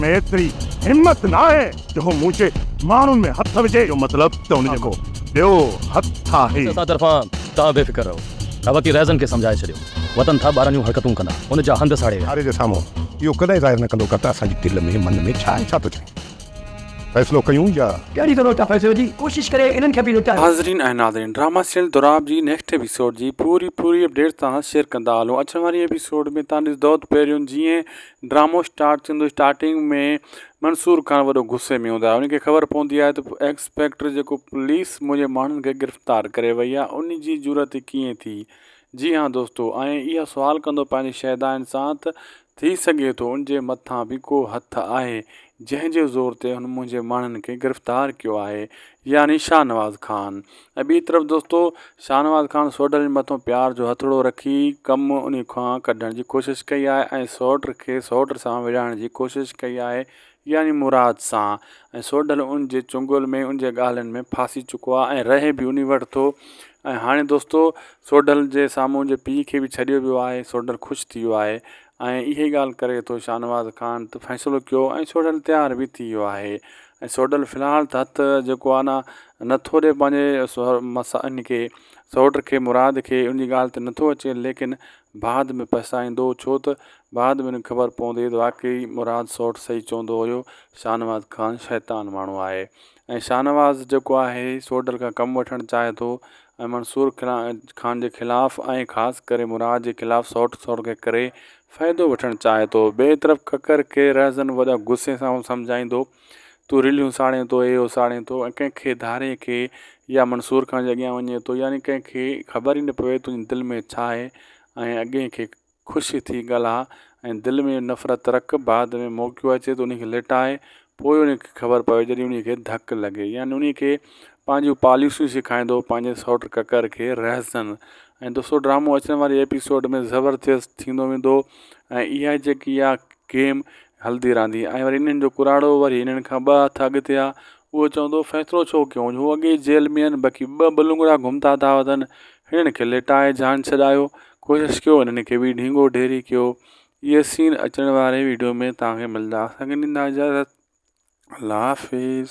۾ ايتري همت ناهي جو هو مون جي ماڻهن ۾ هٿ وجهي. جو مطلب ته ان جو ڪو ٻيو هٿ آهي. اسان طرفان توهان بي فڪر رهو. ابڪي رئيزن کي سمجهائي ڇڏيو. وتن ٿا ٻاراڻيون حرڪتون ڪندا. ان جا هنڌ ساڙي ويا. ڪاري جي سامهون اهو ڪڏهن ظاهر نه ڪندو ڪر ته اسان جي دل ۾ من ۾ ڇا ۽ ڇا ٿو چوي. فيصلو ڪيون يا. ڪهڙي طرح ٿا فيصلو جي ڪوشش ڪري انهن کي به لٽايو. حاضرين ۽ ناظرين ڊراما سيل دوراب جي نيڪسٽ ايپيسوڊ جي پوري پوري اپڊيٽ توهان سان شيئر ڪندا هلون اچڻ واري ايپيسوڊ ۾ توهان ڏسدوته پهريون جيئن ڊرامو اسٽارٽ ٿيندو اسٽارٽنگ ۾ منصور خان وڏو غصي ۾ هوندو آهي ان کي خبر پوندي آهي ته ايڪسپيڪٽر جيڪو پوليس منهنجي ماڻهن کي گرفتار ڪري وئي آهي ان جي جرئت ڪيئن ٿي جي ها دوستو ۽ اها سوال ڪندو پنهنجي شيدائن سان ته ٿي سگهي ٿو ان جي مٿان به ڪو هٿ آهي جنهن جي زور تي هن منهنجي ماڻهن کي گرفتار ڪيو آهي يعني شاهنواز خان ۽ ٻي طرف دوستو شاهنواز خان سوڍل جي مٿو پيار جو هٿڙو رکي ڪم انهي کان ڪڍڻ جي ڪوشش ڪئي آهي ۽ سوٽ کي سوٽ سان وڙهائڻ جي ڪوشش ڪئي آهي يعني مراد سان ۽ سوڍل ان جي چنگول ۾ ان جي ڳالهين ۾ ڦاسي چڪو آهي ۽ رهي به انهي وٽ ٿو ۽ هاڻي دوستو سوڍل جي سامهون ان جي پيء کي به ڇڏيو ويو آهي سوڍل خوش ٿي ويو آهي ۽ اهي ڳالهه ڪري ٿو شاهنواز خان ته فيصلو ڪيو ۽ سوڍل تيار به ٿي ويو آهي ۽ سوڊل في الحال ته هٿ جيڪو آ نه نه ٿو ڏي پنهنجي ان کي سوٽ کي مراد کي ان جي ڳالهه تي نٿو اچي ليڪن بعد ۾ پڇتائيندو ڇو ته بعد ۾ ان کي خبر پوندي ته واقعي مراد سوٽ صحيح چوندو هيو شاهنواز خان شيطان ماڻهو آهي ۽ شاهنواز جيڪو آهي سوڊل کان ڪم وٺڻ چاهي ٿو ۽ منصور خان جي خلاف ۽ خاص ڪري مراد جي خلاف سوٽ سوٽ کي ڪري فائدو وٺڻ چاهي ٿو. ٻئي طرف ڪڪر کي رهزن وڏا غصي سان هو سمجهائيندو، تون رليون ساڙين ٿو، اهي اساڙين ٿو ۽ ڪنهن کي ڌارين کي يا منصور خان جي اڳيان وڃين ٿو يعني ڪنهن کي خبر ئي نه پوي تنهنجي دل ۾ ڇا آهي ۽ اڳئين کي خوش ٿي ڳالهاء ۽ دل ۾ نفرت رک بعد ۾ موقعو اچي ته انهي کي لٽاء پوء انهيء کي خبر پوي جڏهن انهيء کي ڌڪ لڳي يعني انهيء کي پنهنجون پاليسيون سيکائيندو پنهنجي سئوٽ ڪڪر کي رهزن ۽ دوستو ڊرامو اچڻ واري ايپيسوڊ ۾ زبردست ٿيندو ويندو ۽ اها جيڪي آ گيم هلدي رهندي ۽ وري انهن جو ڪراڙو وري انهن کان ٻه هٿ اڳتي آ اهو چوندو فيصلو ڇو ڪيو هو اڳي ئي جيل ۾ آهن بقي ٻه ٻه لونگڙا گهمتا ٿا وتن هنن کي لٽائي جان ڇڏايو ڪوشش ڪيو هنن کي به ڍينگو ڍيري ڪيو اهي سين اچڻ واري ويڊيو ۾ توهان کي ملدا اسان کي ڏيندا اجازت الله حافظ.